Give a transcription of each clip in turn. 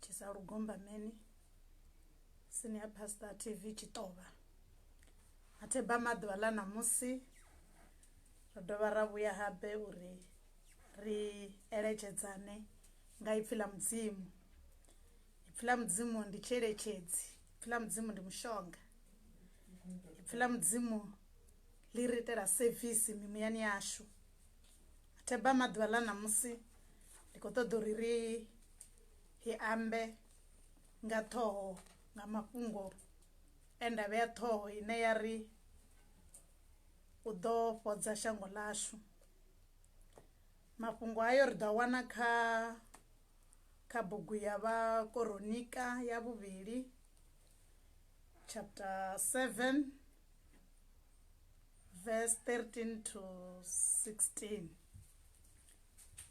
tshisa lugombameni sini ya pastor tv tshiṱovha a theba maḓuvha ḽa ṋamusi ro dovha ra vhuya habe uri ri eletshedzane nga ipfhi ḽa mudzimu ipfhi ḽa mudzimu ndi tshiyeletshedzi ipfhi ḽa mudzimu ndi mushonga ipfhi ḽa mudzimu ḽi ri itela sevisi mimuyani yashu theba maḓuvha ḽa ṋamusi ndi khou ṱoḓa uri ri hi ambe nga ṱhoho nga mafhungo e nda vhea ṱhoho ine ya ri u ḓo fhodza shango ḽashu mafhungo ayo ri ḓo wana kha kha bugu ya vha koronika ya vhuvhili chapter 7 verse 13 to 16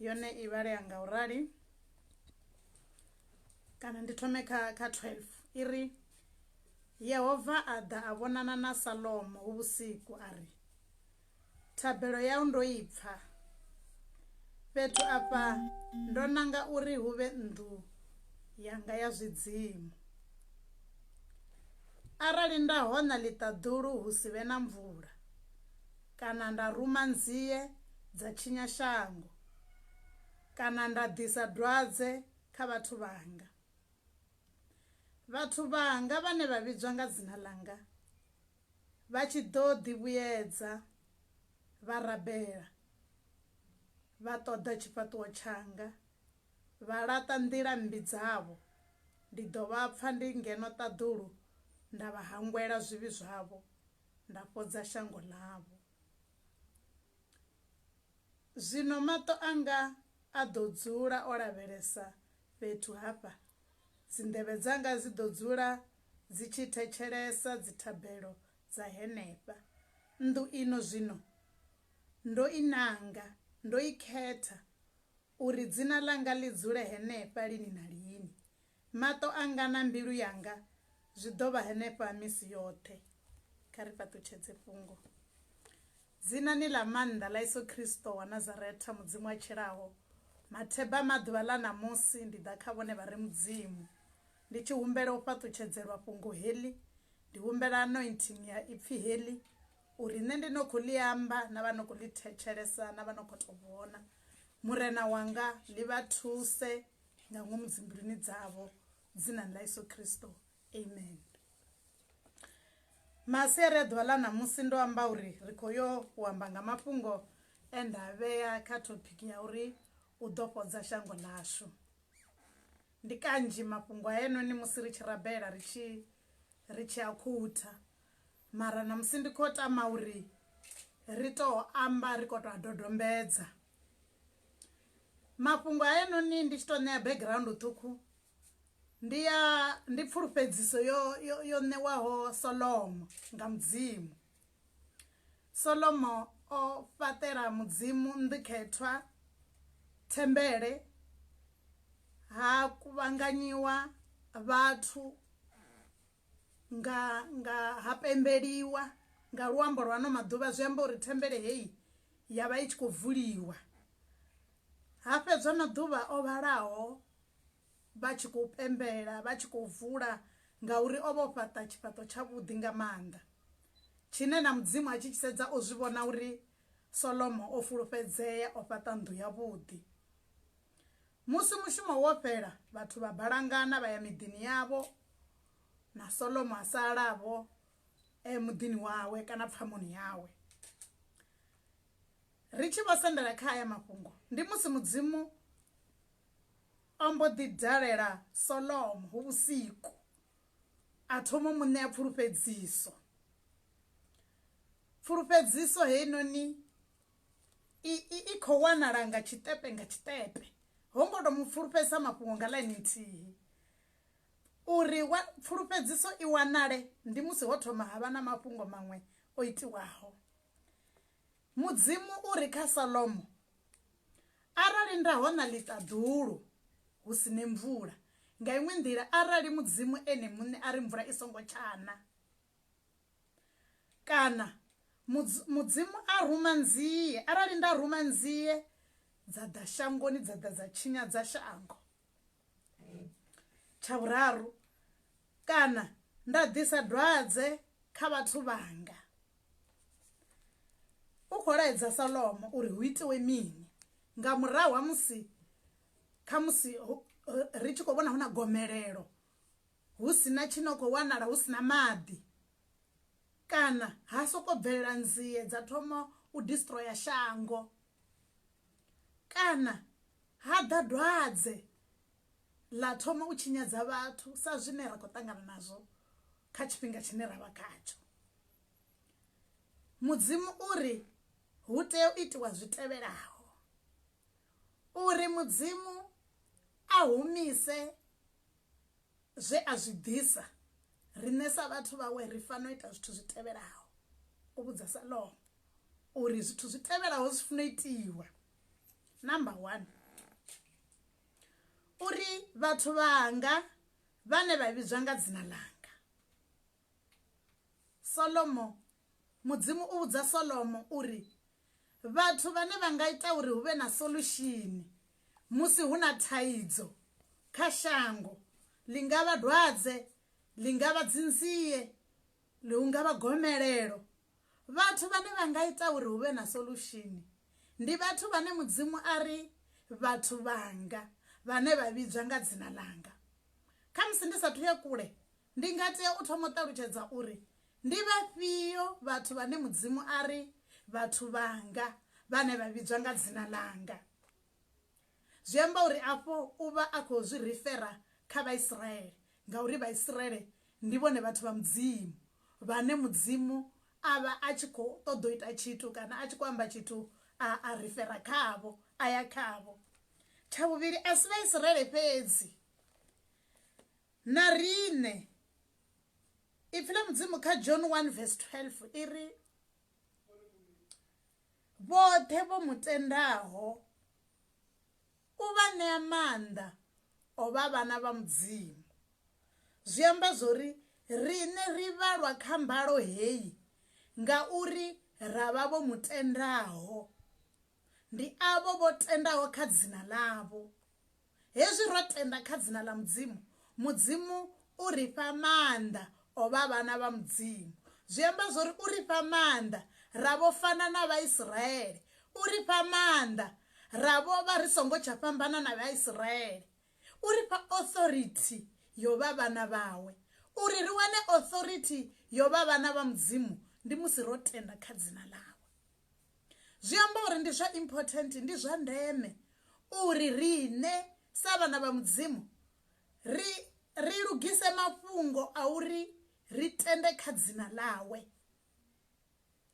yone i vhalea nga u rali kana ndi thome kha kha 12 i ri yehova a ḓa a vhonana na salomo hu vhusiku a ri thabelo yau ndo i pfa fhethu afha ndo nanga uri hu vhe nnḓu yanga ya zwidzimu arali nda hona ḽiṱaḓulu hu si vhe na mvula kana nda ruma nzie dza tshinya shango, kana nda ḓisa dwadze kha vhathu vhanga. Vhathu vhanga vhane vha vhidzwa nga dzina ḽanga vha tshi ḓo ḓivhuyedza vha rabela, vha ṱoḓa tshifhaṱuwo tshanga, vha laṱa nḓila mmbi dzavho, ndi ḓo vha pfa ndi ngeno ṱaḓulu nda vha hangwela zwivhi zwavho, nda fhodza shango ḽavho. Zwino maṱo anga a ḓo dzula o lavhelesa fhethu hafha, dzinḓevhe dzanga dzi ḓo dzula dzi tshi thetshelesa dzithabelo dza henefha. Nnḓu ino zwino ndo i nanga, ndo i khetha Uri dzina ḽanga ḽi dzule henefha lini na lini, maṱo anga na mbilu yanga zwi ḓo vha henefha misi yoṱhe. Kha ri fhaṱutshedze fhungo. Dzinani ḽa maanḓa ḽa Yesu Kristo wa Nazaretha, Mudzimu a tshilaho, matheba a maḓuvha ḽa ṋamusi ndi ḓa kha vhone vha re Mudzimu ndi tshi humbela u fhaṱutshedzelwa fhungo heḽi, ndi humbela anointing ya Ipfi heḽi uri nṋe ndi no khou ḽi amba na vha no khou ḽi thetshelesa na vha no khou tou vhona murena wanga ḽi vha thuse nga ngomu dzimbiluni dzavho dzinani ḽa yesu kristo amen masiari a ḓuvha ḽa ṋamusi ndo amba uri ri khou yo u amba nga mafhungo e nda vhea kha thopiki ya uri u ḓo fhodza shango ḽashu ndi kanzhi mafhungo a enoni musi ri tshi rabela ri tshi ri tshi a khutha Mara namusi ndi kho tama uri ri to amba ri kho to a dodombedza mafhungo hayanoni ndi tshi to ṋea background ṱhukhu ndi ya ndi pfulufhedziso yo yo ṋewaho Solomo nga mudzimu Solomo o fhaṱela mudzimu nḓikhethwa thembele ha kuvhanganyiwa vhathu nga nga ha pembeliwa nga luambo lwa ano maḓuvha zwi amba uri thembele heyi ya vha i tshi khou vuliwa ha fhedzwa maḓuvha o vhalaho vha tshi khou pembela vha tshi khou vula ngauri o vha o fhaṱa tshifhaṱo tshavhuḓi nga maanḓa tshine na mudzimu a tshi tshi sedza o zwi vhona uri solomo o fulufhedzea o fhaṱa nnḓu yavhuḓi musi mushumo wo fhela vhathu vha balangana vha ya miḓini yavho na solomo a salavho eh, muḓini wawe kana pfamoni yawe ri tshi vho sendela kha aya mafhungo ndi musi mudzimu o mbo ḓi dalela solomo hu vhusiku a thoma mu ṋea pfulufhedziso pfulufhedziso heinoni i khou wanala nga tshiṱepe nga tshiṱepe ho ngo to mu pfulufhedzisa mafhungo nga ḽaini nthihi Uri pfulufhedziso i wanale ndi musi ho thoma ha vha na mafhungo maṅwe o itiwaho. Mudzimu u ri kha Salomo, Arali nda hona ḽiṱaḓulu hu si ne mvula, nga iṅwe nḓila arali Mudzimu ene muṋe a ri mvula i songo tsha na, kana Mudzimu a ruma nzie, arali nda ruma nzie dza ḓa shangoni dza ḓa dza tshinyadza shango. tsha vhuraru kana nda ḓisa dwadze kha vhathu vhanga u khou laedza salomo uri hu itiwe mini nga murahu ha musi kha musi ri tshi khou vhona hu na gomelelo hu si na tshi no khou wanala hu si na maḓi kana ha soko bvelela nzie dza thoma u destroyer shango Kana ha ḓa dwadze ḽa thoma u tshinyadza vhathu sa zwine ra khou ṱangana nazwo kha tshifhinga tshine ra vha khatsho mudzimu u ri hu tea u itiwa zwi tevhelaho uri mudzimu a humise Zwe a zwi ḓisa, Riṋe sa vhathu vhawe ri fanela u ita zwithu zwi tevhelaho, O vhudza Salomo uri zwithu zwi tevhelaho zwi funa u itiwa. Number one, uri vhathu vhanga vhane vha vhidzwa nga dzina ḽanga. Solomo Mudzimu u vhudza Solomo uri vhathu vhane vha nga ita uri hu vhe na solushini musi hu na thaidzo kha shango, ḽi nga vha dwadze, ḽi nga vha dzinzie, ḽi hu nga vha gomelelo. Vhathu vhane vha nga ita uri hu vhe na solushini ndi vhathu vhane Mudzimu a ri vhathu vhanga vhane vha vhidzwa nga dzina ḽanga. Khamusi ndi sa thu ya kule Ndi nga tea u thoma u ṱalutshedza uri ndi vhafhio vhathu vhane Mudzimu a ri vhathu vhanga vhane vha vhidzwa nga dzina ḽanga. Zwi amba uri afho u vha a khou zwi rifera kha Vhaisraele ngauri Vhaisraele ndi vhone vhathu vha Mudzimu vhane Mudzimu a vha a tshi khou ṱoḓa u ita tshithu kana a tshi khou amba tshithu a a rifera khavho, a ya khavho. Tsha vhuvhili, a si Vhaisraele fhedzi Na riṋe. Ipfi ḽa Mudzimu kha John 1 vesi 12 i ri, Vhoṱhe vho mu tendaho u vha ṋea maanḓa o vha vhana vha Mudzimu. Zwi amba zwo ri riṋe ri vhalwa kha mbalo heyi ngauri ra vha vho mu tendaho. Ndi avho vho tendaho kha dzina ḽavho. Hezwi ro tenda kha dzina ḽa Mudzimu, Mudzimu u ri fha maanḓa o vha vhana vha Mudzimu. Zwi amba zwo ri u ri fha maanḓa ra vho fana na Vhaisraele. U ri fha maanḓa ra vho vha ri songo tsha fhambana na Vhaisraele. U ri fha authority yo vha vhana vhawe. Uri ri wane authority yo vha vhana vha Mudzimu ndi musi ro tenda kha dzina ḽawe. Zwi amba uri ndi zwa important, ndi zwa ndeme uri riṋe sa vhana vha Mudzimu ri ri lugise mafhungo a uri ri tende kha dzina ḽawe.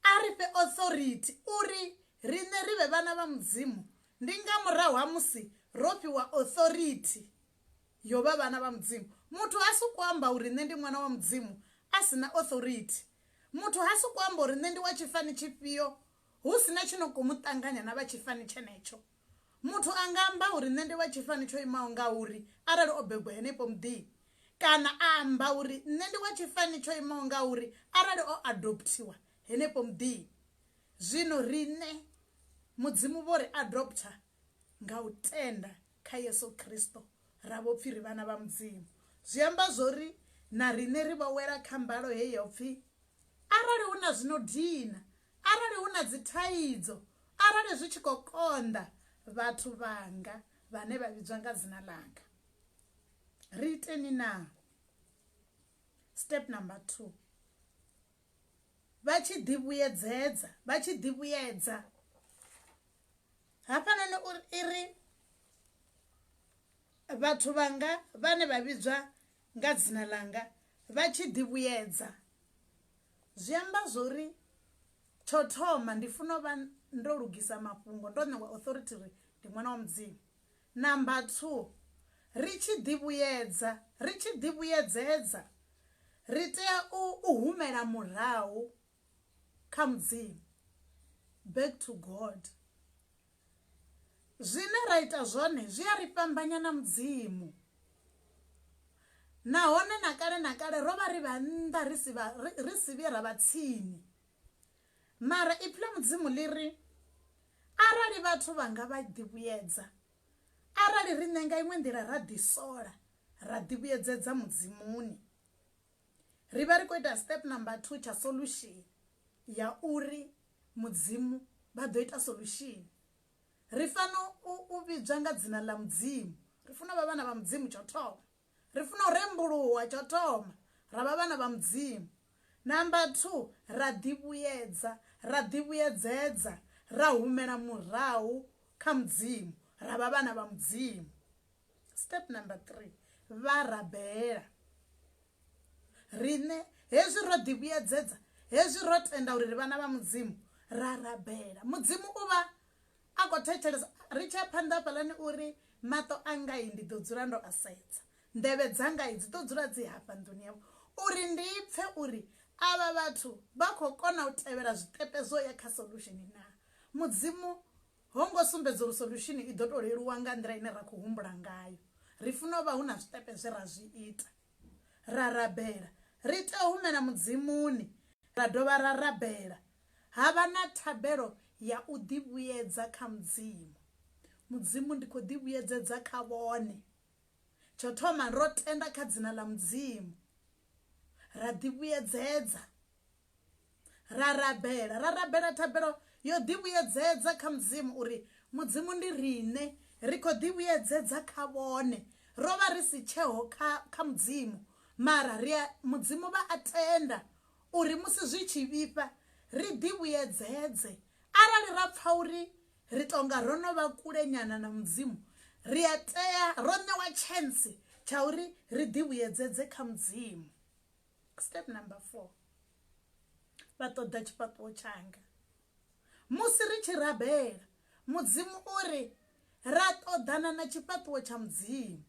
A ri fhe authority uri riṋe ri vhe vhana vha Mudzimu, ndi nga murahu ha musi ro fhiwa authority yo vha vhana vha Mudzimu. Muthu ha soko amba uri nṋe ndi ṅwana wa Mudzimu a si na authority, Muthu ha sokou amba uri nṋe ndi wa tshifani tshifhio hu si na tshi no khou mu ṱanganya na vha tshifani tshenetsho. Muthu a nga amba uri nṋe ndi wa tshifani tsho imaho nga uri arali o bebwa henefho muḓini, kana a amba uri nṋe ndi wa tshifani tsho imaho nga uri arali o adopthiwa henefho muḓini. Zwino riṋe Mudzimu vho ri adoptha Nga u tenda kha Yesu Kristo, ra vho pfi ri vhana vha Mudzimu. Zwi amba zwo ri na riṋe ri vho wela kha mbalo he yo pfi, Arali hu na zwi no dina, arali hu na dzithaidzo, arali zwi tshi khou konḓa, vhathu vhanga vhane vha vhidzwa nga dzina ḽanga. Ri iteni naa? Step number 2. vha tshi ḓi vhuyedzedza vha tshi ḓi vhuyedza hafhanoni uri i ri vhathu vhanga vhane vha vhidzwa nga dzina ḽanga vha tshi ḓi vhuyedza zwi amba zwori tsho thoma ndi funa u vha ndo lugisa mafhungo ndo ṋewa authority ri ndi ṅwana wa mudzimu Number two, ri tshi ḓivhuyedza, ri tshi ḓivhuyedzedza, ri tea u, u humela murahu kha Mudzimu, back to God. Zwine ra ita zwone zwi a ri fhambanya na Mudzimu. Nahone na kale na kale ro vha ri vha nnḓa ri si vha ri si vhuye ra vha tsini. Mara Ipfi ḽa Mudzimu ḽi ri, Arali vhathu vhanga vha ḓivhuyedza, arali riṋe nga iṅwe nḓila ra ḓisola, ra ḓivhuyedzedza Mudzimuni, ri vha ri khou ita step number two tsha solution ya uri Mudzimu vha ḓo ita solution. Ri fanela u vhidzwa nga dzina ḽa Mudzimu, ri funa u vha vhana vha Mudzimu tsha u thoma. Ri funa u rembuluwa, tsho thoma, ra vha vhana vha Mudzimu. Number two, ra ḓivhuyedza, ra ḓivhuyedzedza, ra humela murahu kha Mudzimu, ra vha vhana vha Mudzimu. Step number three, vha rabela. Riṋe hezwi ro ḓivhuyedzedza, hezwi ro tenda uri ri vhana vha Mudzimu, ra rabela. Mudzimu u vha A khou thetshelesa. Ri tshi ya phanḓa hafhaḽani u ri, Maṱo angai ndi ḓo dzula ndo a sedza. Nḓevhe dzangai dzi ḓo dzula dzi hafha nḓuni yavho uri ndi pfe uri avha vhathu vha khou kona u tevhela zwiṱepe zwo ya kha solution naa. Mudzimu ho ngo sumbedza uri solution i ḓo tou leluwa nga nḓila ine ra khou humbula ngayo. Ri funa u vha hu na zwiṱepe zwe ra zwi ita. Ra rabela. Ri tea u humela Mudzimuni ra dovha ra rabela. Ha vha na thabelo ya u ḓivhuyedza kha Mudzimu. Mudzimu, ndi khou ḓivhuyedzedza kha vhone. Tsho thoma, ro tenda kha dzina ḽa Mudzimu. Ra ḓivhuyedzedza. Ra rabela. Ra rabela thabelo yo ḓivhuyedzedza kha Mudzimu uri, Mudzimu, ndi riṋe. Ri khou ḓivhuyedzedza kha vhone. Ro vha ri si tsheho kha, kha Mudzimu, mara ri a, Mudzimu vha a tenda uri musi zwi tshi vhifha ri ḓivhuyedzedze. Arali ra pfa uri ri tou nga ro no vha kulenyana na Mudzimu, ri a tea, ro ṋewa tshentsi tsha uri ri ḓivhuyedzedze kha Mudzimu. Step number four, vha ṱoḓa tshifhaṱuwo tshanga. Musi ri tshi rabela mudzimu uri ra ṱoḓana na tshifhaṱuwo tsha mudzimu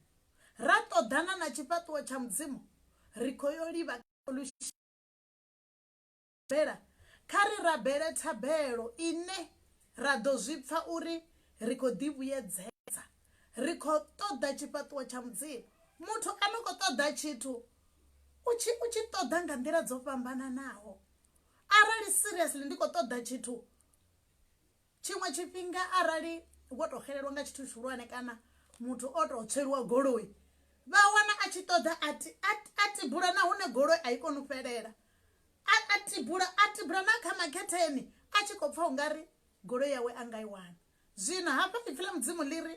ra ṱoḓana na tshifhaṱuwo tsha mudzimu ri khou yo livha bela kha ri rabele thabelo ine ra ḓo zwi pfa uri ri khou ḓi vhuyedzedza ri khou ṱoḓa tshifhaṱuwo tsha mudzimu muthu a no khou ṱoḓa tshithu u tshi u tshi ṱoḓa nga nḓila dzo fhambananaho arali seriously ndi khou ṱoḓa tshithu tshiṅwe tshifhinga arali wo to xelelwa nga tshithu tshihulwane kana muthu o to tsweliwa goloi vha wana a tshi ṱoḓa a tibula na hune goloi a i koni u fhelela a tibula a tibula na kha makhetheni a tshi khou pfha ungari goloi yawe a nga i wana zwino hafha ipfi ḽa mudzimu ḽi ri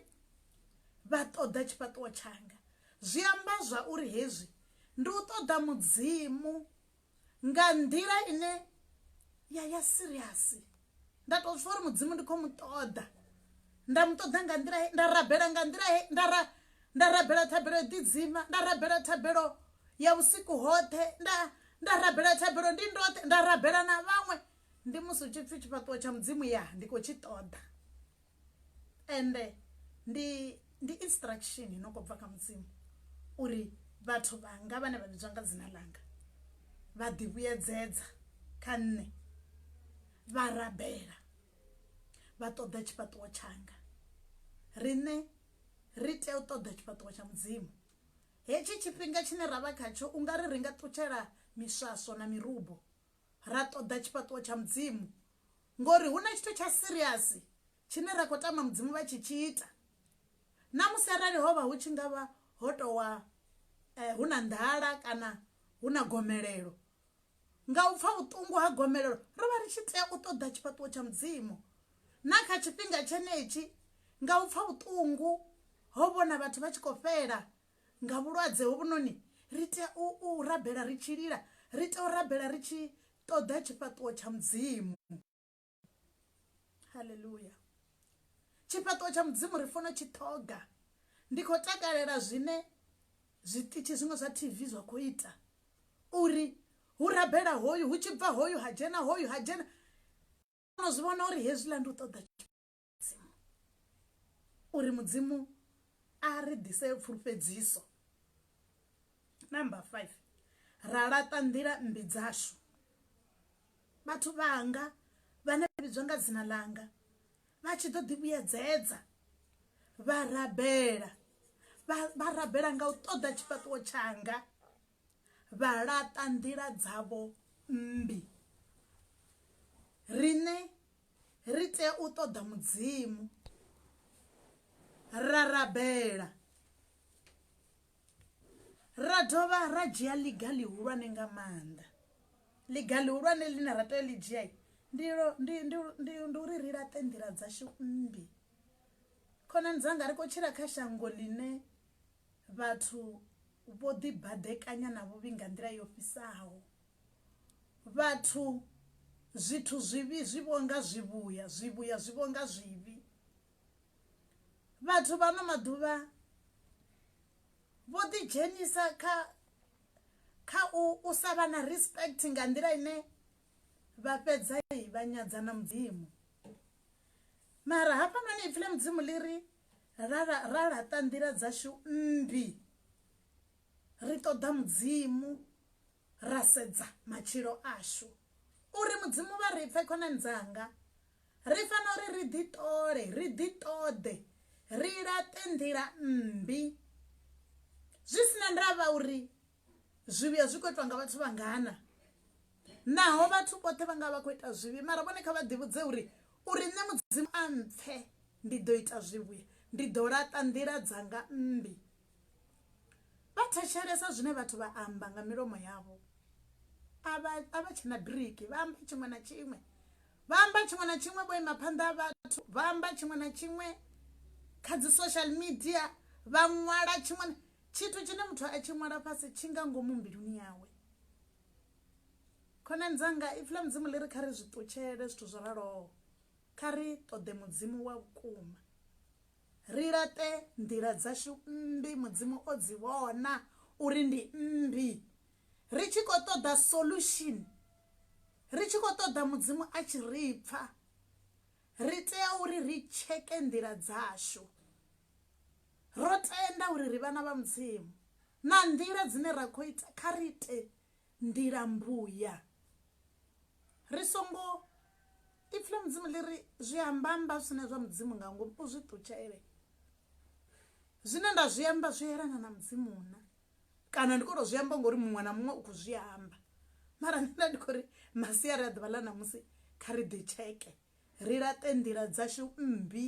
vha ṱoḓa tshifhaṱuwo tshanga zwi amba zwa uri hezwi ndi u ṱoḓa mudzimu nga nḓila ine ya ya siriasi nda tou pfha uri mudzimu ndi khou mu ṱoḓa nda mu ṱoḓa nga nḓila nda rabela nga nḓila nda ra nda rabela thabelo ḓidzima nda rabela thabelo ya vhusiku hoṱhe nda nda rabela thabelo ndi ndoṱhe nda rabela na vhaṅwe ndi musi hu tshi pfhi tshifhaṱuwo tsha mudzimu ya ndi khou tshi ṱoḓa ende ndi ndi instruction no kho bva kha mudzimu uri vhathu vhanga vhane vha vhidzwa nga dzina langa vha ḓi vhuyedzedza kha nṋe vha rabela vha ṱoḓa tshifhaṱuwo tshanga riṋe ri tea u ṱoḓa tshifhaṱuwo tsha mudzimu hetshi tshifhinga tshine ra vha khatsho u nga ri ri nga ṱutshela miswaswo na mirubo ra ṱoḓa tshifhaṱuwo tsha mudzimu ngori hu na tshithu tsha serious tshine ra khou tama mudzimu vha tshi tshi ita na musi arali ho vha hu tshi nga vha ho towa eh, hu na nḓala kana hu na gomelelo nga u pfa vhuṱungu ha gomelelo ro vha ri tshi tea u ṱoḓa tshifhaṱuwo tsha mudzimu na kha tshifhinga tshenetshi nga u pfa vhuṱungu ho vhona vhathu vha tshi khou fhela nga vhulwadze hovhunoni, ri tea u, u rabela ri tshi lila, ri tea u rabela ri tshi ṱoḓa tshifhaṱuwo tsha Mudzimu. Haleluya! Tshifhaṱuwo tsha Mudzimu ri fanela u tshi ṱhoga. Ndi khou takalela zwine zwiṱitshi zwiṅwe zwa TV zwa khou ita uri hu rabela hoyu, hu tshi bva hoyu ha dzhena hoyu ha dzhena. Ndo no zwi vhona uri hezwiḽa ndi u ṱoḓa mudzimu uri mudzimu a ri ḓise pfulufhedziso number five ra laṱa nḓila mmbi dzashu vhathu vhanga vhane vha vhidzwa nga dzina ḽanga vha tshi ḓo ḓivhuyedzedza vha rabela vha rabela nga u ṱoḓa tshifhaṱuwo tshanga vha laṱa nḓila dzavho mmbi riṋe ri tea u ṱoḓa mudzimu ra rabela ra dovha ra dzhia ḽiga ḽihulwane nga maanḓa ḽiga ḽihulwane ḽine ra tea ḽi dzhia ndi uri ri laṱe nḓila dzashu mmbi khonani dzanga ri khou tshila kha shango ḽine vhathu vho ḓibadekanya na vhuvhi nga nḓila yo fhisaho vhathu zwithu zwivhi zwi vhonga zwivhuya, zwivhuya zwi vhonga zwivhi. Vhathu vha ano maḓuvha vho ḓi dzhenisa kha kha u u sa vha na respect nga nḓila ine vha fhedza vha nyadza na mudzimu mara hafhanoni ipfhi ḽa mudzimu ḽi ri ra ra laṱa nḓila dzashu mmbi ri ṱoḓa mudzimu ra sedza matshilo ashu uri mudzimu vha ri pfe khonani dzanga ri fanela uri ri ḓi ṱole ri ḓi ṱoḓe ri laṱe nḓila mmbi zwi sina ndavha uri zwivhuya zwi khou itwa nga vhathu vha ngana naho vhathu vhoṱhe vha nga vha khou ita zwivhi mara vhone kha vha ḓivhudze uri uri nṋe mudzimu a mpfe ndi ḓo ita zwivhuya ndi ḓo laṱa nḓila dzanga mmbi Vha thetshelesa zwine vhathu vha amba nga milomo yavho. A vha a vha tshena biriki, vha amba tshiṅwe na tshiṅwe. Vha amba tshiṅwe na tshiṅwe vho ima phanḓa ha vhathu, vha amba tshiṅwe na tshiṅwe kha dzi social media, vha ṅwala tshiṅwe na tshithu tshine muthu a tshi ṅwala fhasi tshi nga ngomu mbiluni yawe. Khonani dzanga ipfi ḽa Mudzimu ḽi ri kha ri zwi ṱutshele zwithu zwo raloho, kha ri ṱoḓe Mudzimu wa vhukuma. Ri laṱe nḓila dzashu mmbi Mudzimu o dzi vhona uri ndi mmbi ri tshi khou ṱoḓa solution ri tshi khou ṱoḓa Mudzimu a tshi ri pfa ri tea uri ri tsheke nḓila dzashu ro tenda uri ri vhana vha Mudzimu na nḓila dzine ra khou ita kha ri ite nḓila mbuya ri songo ipfi ḽa mudzimu ḽi ri zwi ambamba zwi sina zwa mudzimu nga ngomu u zwi ṱutshele zwine nda zwi amba zwi yelana na mudzimu na kana ndi khou tou zwi amba ngori muṅwe na muṅwe u khou zwi amba mara nṋe ndi khou ri masiari a ḓuvha ḽa ṋamusi kha ri ḓi tsheke ri laṱe nḓila dzashu mmbi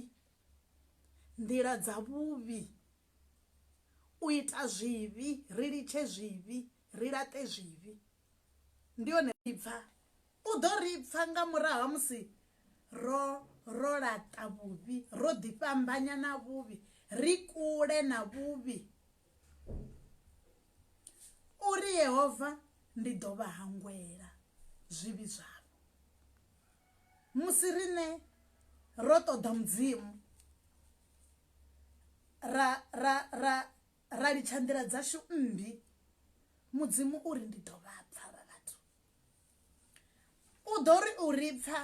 nḓila dza vhuvhi u ita zwivhi, ri litshe zwivhi, ri laṱe zwivhi. Ndi hone ri pfa, u ḓo ri pfa nga murahu ha musi ro ro laṱa vhuvhi, ro ḓi fhambanya na vhuvhi, ri kule na vhuvhi. Uri Yehova ndi ḓo vha hangwela zwivhi zwavho. musi riṋe ro ṱoḓa mudzimu ra ra ra ra litsha nḓila dzashu mmbi mudzimu uri ndi ḓo vha pfha vha vhathu u ḓo ri u ri pfha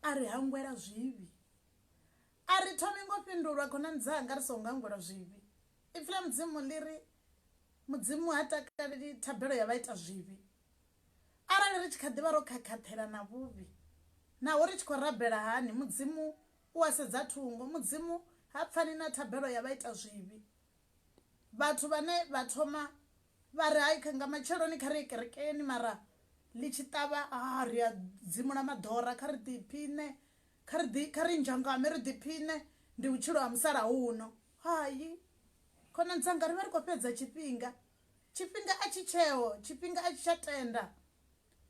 a ri hangwela zwivhi a ri thomi ngo fhindulwa khonani dzanga ri songo hangwela zwivhi ipfi ḽa mudzimu ḽi ri mudzimu ha takaleli thabelo ya vha ita zwivhi Arali ri tshi kha ḓi vha ro khakhathela na vhuvhi, naho ri tshi khou rabela hani, Mudzimu u a sedza thungo. Mudzimu ha pfani na thabelo ya vhaitazwivhi, vhathu vhane vha thoma vha ri, Hai, nga matsheloni kha ri ye kerekeni, mara ḽi tshi ṱavha, haa, ri a dzimula maḓora, kha ri ḓiphiṋe, kha ri ḓi, kha ri nzhangame ri ḓiphiṋe, ndi vhutshilo ha musalauno. Hai, khonani dzanga, ri vha ri khou fhedza tshifhinga. Tshifhinga a tshi tsheho, tshifhinga a tshi tsha tenda.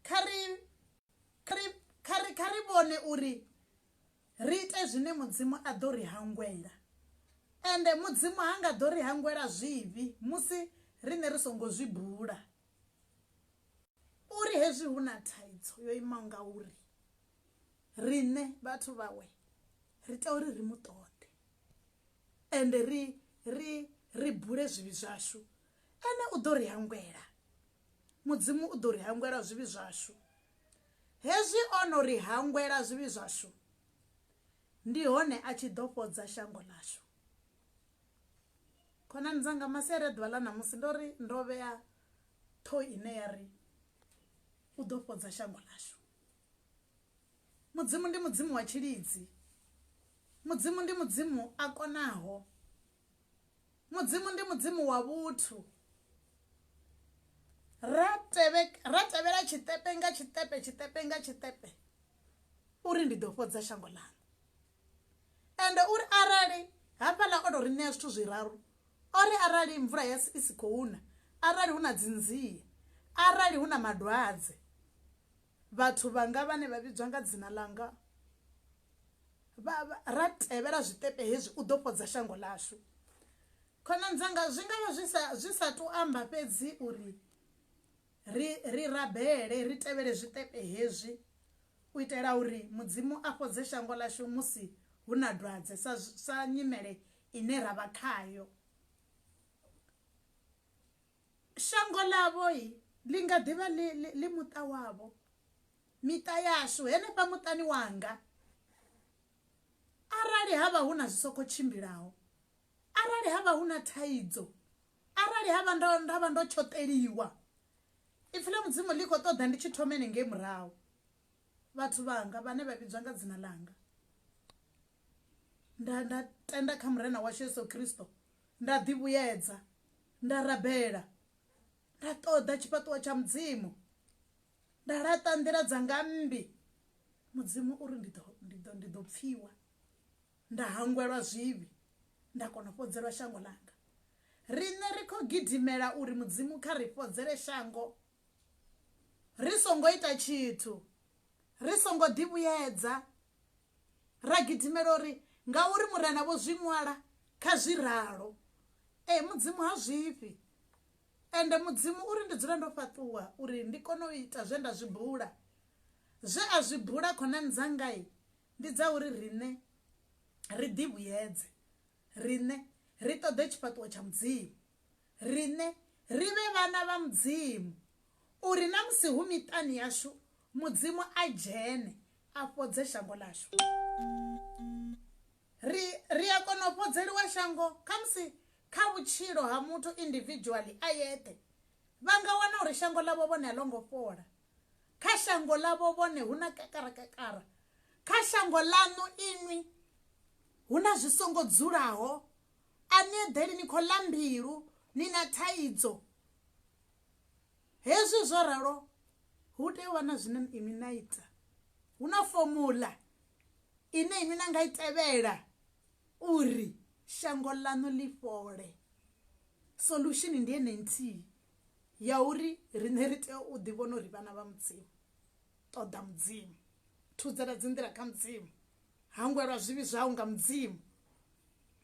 Kha ri, kha ri, kha ri, kha ri vhone uri ri ite zwine Mudzimu a ḓo ri hangwela. Ende Mudzimu ha nga ḓo ri hangwela zwivhi musi riṋe ri songo zwi bula. Uri hezwi hu na thaidzo yo imaho ngauri, riṋe vhathu vhawe ri tea uri ri mu ṱoḓe. ende ri ri ri bule zwivhi zwashu ene u ḓo ri hangwela mudzimu u ḓo ri hangwela zwivhi zwashu hezwi o no ri hangwela zwivhi zwashu ndi hone a tshi ḓo fhodza shango ḽashu khonani dzanga masiari a ḓuvha ḽa ṋamusi ndo ri ndo vhea ṱhoho ine ya ri u ḓo fhodza shango ḽashu mudzimu ndi mudzimu wa tshilidzi mudzimu ndi mudzimu a konaho mudzimu ndi mudzimu wa vhuthu ra tevhela tshiṱepe nga tshiṱepe tshiṱepe nga tshiṱepe uri ndi ḓo fhodza shango ḽanu ende uri arali hafhaḽa o tou ri ṋea zwithu zwiraru o ri arali mvula ya i si khou na arali hu na dzinzie arali hu na madwadze Vhathu vhanga vhane vha vhidzwa nga dzina ḽanga vha ra tevhela zwiṱepe hezwi, u ḓo fhodza shango ḽashu. Khonani dzanga, zwi nga vha zwi sa zwi sa tou amba fhedzi uri ri ri rabele, ri tevhele zwiṱepe hezwi u itela uri Mudzimu a fhodze shango ḽashu musi hu na dwadze sa sa nyimele ine ra vha khayo. Shango ḽavho ḽi nga ḓi vha ḽi muṱa wavho, miṱa yashu, henefha muṱani wanga. Arali ha vha hu na zwi sokou tshimbilaho, arali ha vha hu na thaidzo, arali ha vha ndo nda vha ndo tshoṱeliwa, ipfi ḽa Mudzimu ḽi khou ṱoḓa ndi tshi thomele ngei murahu, vhathu vhanga vhane vha vhidzwa nga dzina ḽanga, nda nda tenda kha Murena washu Yesu Kristo, Nda ḓi vhuyedza, nda rabela, nda ṱoḓa tshifhaṱuwo tsha Mudzimu, nda laṱa nḓila dzanga mmbi, Mudzimu u ri ndi ḓo, ndi ḓo, ndi ḓo pfiwa, nda hangwelwa zwivhi, nda kona u fhodzelwa shango ḽanga. Riṋe ri khou gidimela uri Mudzimu kha ri fhodzele shango ri songo ita tshithu. ri songo ḓivhuyedza, ra gidimela uri ngauri Murena vho zwi ṅwala kha zwi ralo. Ee, Mudzimu ha zwifhi. Ende Mudzimu uri ndi dzule ndo fhaṱuwa uri ndi kone u ita zwe nda zwi bula. Zwe a zwi bula khonani dzanga ndi dza uri riṋe ri ḓivhuyedze, riṋe ri ṱoḓe tshifhaṱuwo tsha Mudzimu. riṋe ri vhe vhana vha Mudzimu, uri na musi hu miṱani yashu Mudzimu a dzhene a fhodze shango ḽashu. Ri ri a kona u fhodzeliwa shango khamusi kha vhutshilo ha muthu individually a yeṱhe. Vha nga wana uri shango ḽavho vhone a ḽo ngo fhola, kha shango ḽavho vhone hu na kakarakakara, kha shango ḽaṋu inwi hu na zwi songo dzulaho, A ni eḓeli, ni khou ḽa mbilu, ni na thaidzo. Hezwi zwo ralo, hu tea u vha na zwine inwi na ita. Hu na fomuḽa ine inwi na nga i tevhela uri shango ḽaṋu ḽi fhole. Solution ndi ene nthihi ya uri riṋe ri tea u ḓi vhona uri vhana vha Mudzimu. Ṱoḓa Mudzimu, thudzela dzi nḓila kha Mudzimu, hangwelwa zwivhi zwau nga Mudzimu,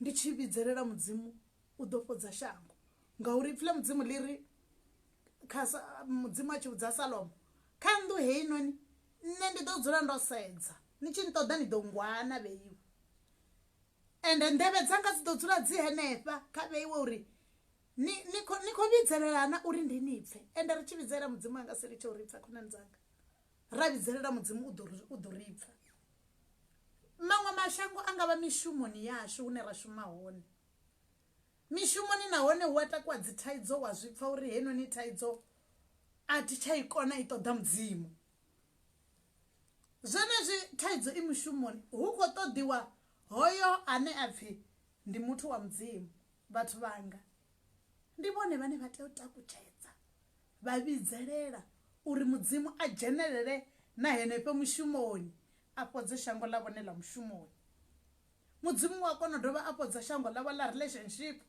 ndi tshi vhidzelela mudzimu u ḓo fhodza shango ngauri ipfi ḽa mudzimu ḽi ri kha mudzimu a tshi vhudza salomo kha nnḓu heinoni nṋe ndi ḓo dzula ndo sedza ni tshi nṱoḓa ni ḓo ngwana vheiwe ende nḓevhe dzanga dzi ḓo dzula dzi henefha kha vheiwe uri ni ni khou ni khou vhidzelelana uri ndi ni pfhe ende ri tshi vhidzelela mudzimu anga si litshe uri pfha khonani dzanga ra vhidzelela mudzimu u ḓo u ḓo ri pfha Maṅwe mashango a nga vha mishumoni yashu hune ra shuma hone. Mishumoni nahone hu a takuwa dzi thaidzo wa zwi pfa uri heinoni thaidzo a thi tsha i kona i ṱoḓa mudzimu. Zwenezwi thaidzo i mushumoni hu khou ṱoḓiwa hoyo ane a pfhi ndi muthu wa mudzimu vhathu vhanga. Ndi vhone vhane vha tea u takutshedza vha vhidzelela uri Mudzimu a dzhenelele na henefho mushumoni, a fhodze shango ḽa vhone ḽa mushumoni. Mudzimu u a kona u dovha a fhodza shango ḽavho ḽa relationship,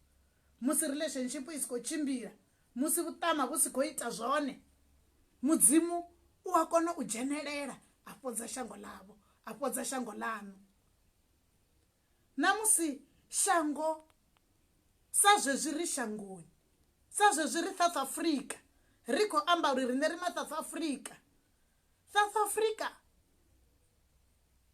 musi relationship i si khou tshimbila, musi vhuṱama vhu si khou ita zwone. Mudzimu u a kona u dzhenelela a fhodza shango ḽavho, a fhodza shango ḽaṋu. Na musi shango sa zwezwi ri shangoni, sa zwezwi ri South Africa, ri khou amba uri riṋe ri ma South Africa. South Africa,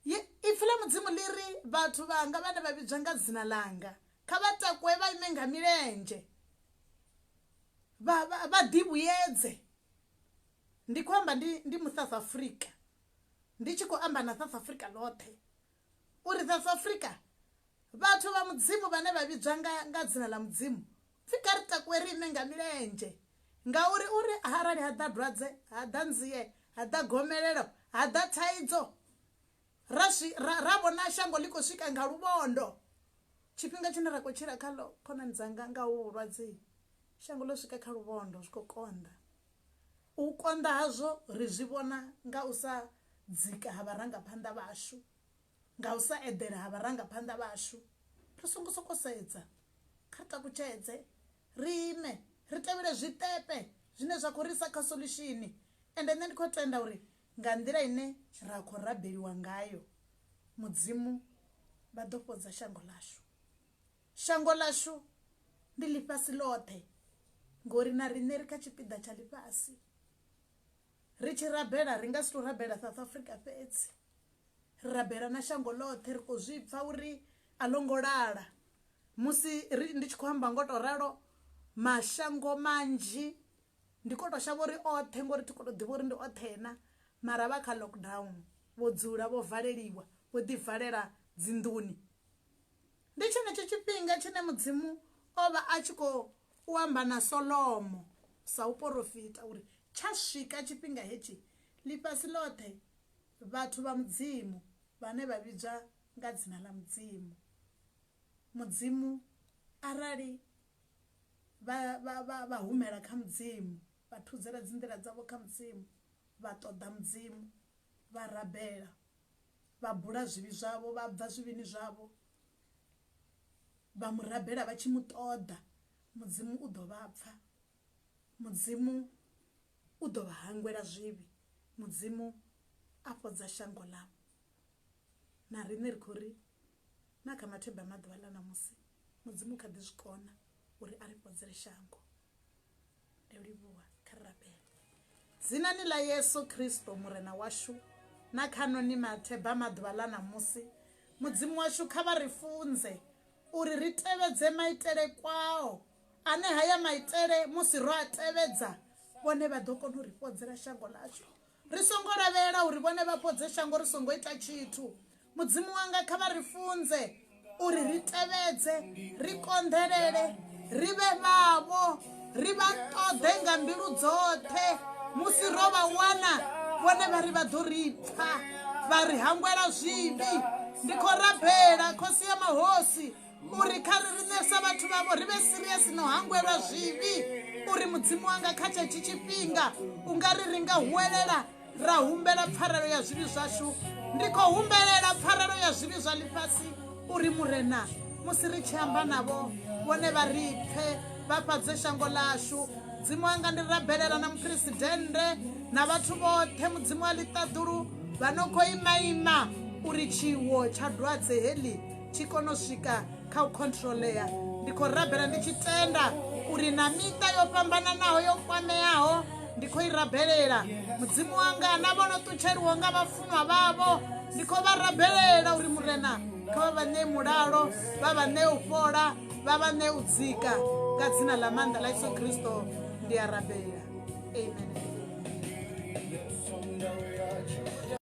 Ipfi ḽa Mudzimu ḽi ri, Vhathu vhanga vhane vha vhidzwa nga dzina ḽanga, kha vha takuwe vha ime nga milenzhe, vha ḓivhuyedze. Ndi khou amba ndi South Africa, ndi tshi khou amba na South Africa ḽoṱhe. Uri South Africa vhathu vha mudzimu vhane vha vhidzwa nga, nga dzina ḽa mudzimu pfi kha ri takuwe riṋe nga milenzhe ngauri uri arali ha ḓa dwadze ha ḓa nzie ha ḓa gomelelo ha ḓa thaidzo ra, ra, ra vhona shango ḽi khou swika nga luvhondo tshifhinga tshine ra khou tshila khaḽo khonani dzanga nga hu vhulwadze shango ḽo swika kha luvhondo zwi khou konḓa U konḓa hazwo ri zwi vhona nga u sa dzika ha vharangaphanḓa vhashu, nga u sa eḓela ha vharangaphanḓa vhashu. Ri songo sokou sedza, kha ri takutshedze, ri ime, ri tevhele zwiṱepe zwine zwa khou ri isa kha solushini. Ende nṋe ndi khou tenda uri nga nḓila ine ra khou rabeliwa ngayo, Mudzimu vha ḓo fhodza shango ḽashu. Shango ḽashu ndi ḽifhasi ḽoṱhe ngori na riṋe ri kha tshipiḓa tsha ḽifhasi. Ri tshi rabela ri nga si tou rabela South Africa fhedzi, ri rabela na shango ḽoṱhe. Ri khou zwi pfha uri a ḽo ngo lala. Musi ri, ndi tshi khou amba ngo tou ralo, mashango manzhi ndi khou tou shavha uri oṱhe ngori thi khou tou ḓivha uri ndi oṱhe na, mara vha kha lockdown vho dzula vho valeliwa vho ḓivalela dzinḓuni. Ndi tshenetsho tshifhinga tshine Mudzimu o vha a tshi khou amba na Solomo sa u porofita uri tsha swika tshifhinga hetshi, ḽifhasi ḽoṱhe vhathu vha Mudzimu vhane vha vhidzwa nga dzina ḽa Mudzimu, Mudzimu arali vha, vha, vha, vha humela kha Mudzimu, vha thudzela dzinḓila dzavho kha Mudzimu, vha ṱoḓa Mudzimu, vha rabela vha bula zwivhi zwavho vha bva zwivhini zwavho vha mu rabela vha tshi mu ṱoḓa mudzimu u ḓo vha pfa mudzimu u ḓo vha hangwela zwivhi mudzimu a fhodza shango ḽavho na riṋe ri khou ri na kha matheba maḓuvha ḽa ṋamusi mudzimu kha ḓi zwi kona uri a ri fhodzele shango ndo livhuwa kha ri rabele dzinani ḽa yesu kristo murena washu na khano ni matheba maḓuvha ḽa ṋamusi mudzimu washu kha vha ri funze uri ri tevhedze maitele kwao ane haya maitele musi ro a tevhedza vhone vha ḓo kona u ri fhodzela shango ḽashu ri songo lavhelela uri vhone vha fhodze shango ri songo ita tshithu mudzimu wanga kha vha ri funze uri ri tevhedze ri konḓelele ri vhe vhavho ri vha ṱoḓe nga mbilu dzoṱhe musi ro vha wana vhone vha ri vha ḓo ri pfa vha ri hangwela zwivhi ndi khou rabela khosi ya mahosi uri kha ri riṋe sa vhathu vhavho ri vhe siriasi no hangwelwa zwivhi uri mudzimu wanga kha tshetshi tshifhinga u nga ri ri nga huwelela ra humbela pfarelo ya zwivhi zwashu ndi khou humbelela pfarelo ya zwivhi zwa ḽifhasi uri murena musi ri tshi amba navho vhone vha ri pfe vha fhadze shango ḽashu mudzimu wanga ndi rabelela na muphuresidennde na vhathu vhoṱhe mudzimu wa ḽiṱaḓulu vha no khou imaima uri tshiwo tsha dwadze heḽi tshi kone u swika kha u controlea ndi khou rabela ndi tshi tenda uri na miṱa yo fhambananaho yo kwameaho ndi khou i rabelela mudzimu wanga na vho no ṱutsheliwo nga vhafunwa vhavho ndi khou vha rabelela uri murena kha vha vha ṋee mulalo vha vha ṋee u fhola vha vha ṋee u dzika nga dzina ḽa maanḓa ḽa yesu kristo ndi a rabela amen